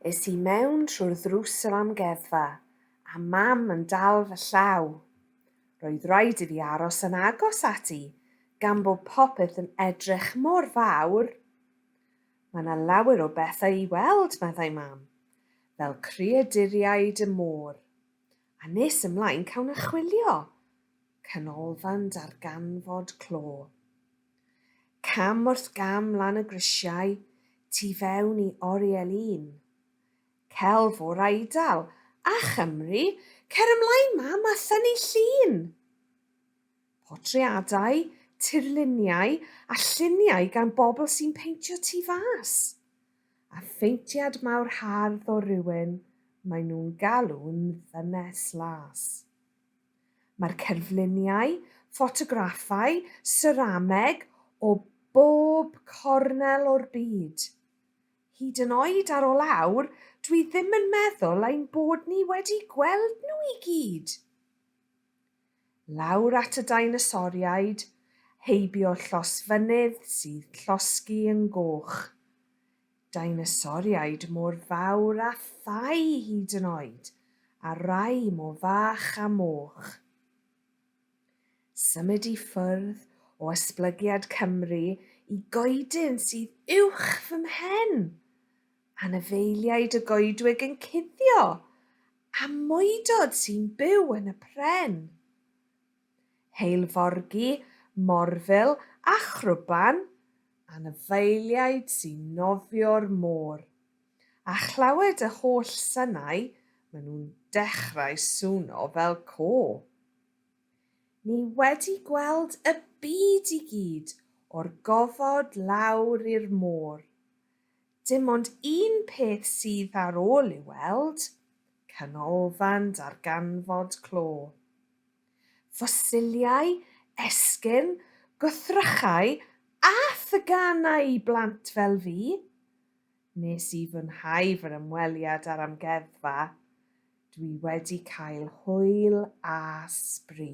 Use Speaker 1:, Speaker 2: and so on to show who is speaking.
Speaker 1: Es i mewn trwy'r ddrws yr amgueddfa, a mam yn dal fy llaw. Roedd rhaid i fi aros yn agos ati, gan bod popeth yn edrych mor fawr. Mae 'na lawer o bethau i weld, meddai Mam, fel creaduriaid y môr. A nes ymlaen cawn achwilio canolfan darganfod clo. Cam wrth gam lan y grisiau, tu fewn i oriel un. Celf o'r Eidal, a Chymru, cer ymlaen Mam a thynnu llun! Portreadau, tirluniau a lluniau gan bobl sy'n peintio tu fas. A pheintiad mawr hardd o rywun maen nhw'n galw'n ddynes las. Mae'r cerfluniau, ffotograffau, serameg o bob cornel o'r byd. Hyd yn oed ar ol awr, dwi ddim yn meddwl ein bod ni wedi gweld nhw i gyd! lawr at y deinosoriaid heibio llosfynydd sydd llosgi yn goch. Deinosoriaid mor fawr a thai hyd yn oed, a rai mo fach a moch. Symud i ffwrdd o ysblygiad Cymru i goedyn sydd uwch fy mhen! Anifeiliaid y goedwig yn cuddio A mwydod sy'n byw yn y pren. Heilforgi, morfil a chrwban, anifeiliaid sy'n nofio'r môr. A chlywed y holl synau, maen nhw'n dechrau swno fel côr. Ni wedi gweld y byd i gyd o'r gofod lawr i'r môr. Dim ond un peth sydd ar ôl i'w weld, canolfan darganfod clo. Ffosiliau, esgyrn, gwrthrychau a theganau i blant fel fi! Nes i fwynhau fy ymweliad â'r amgueddfa, dwi wedi cael hwyl a sbri.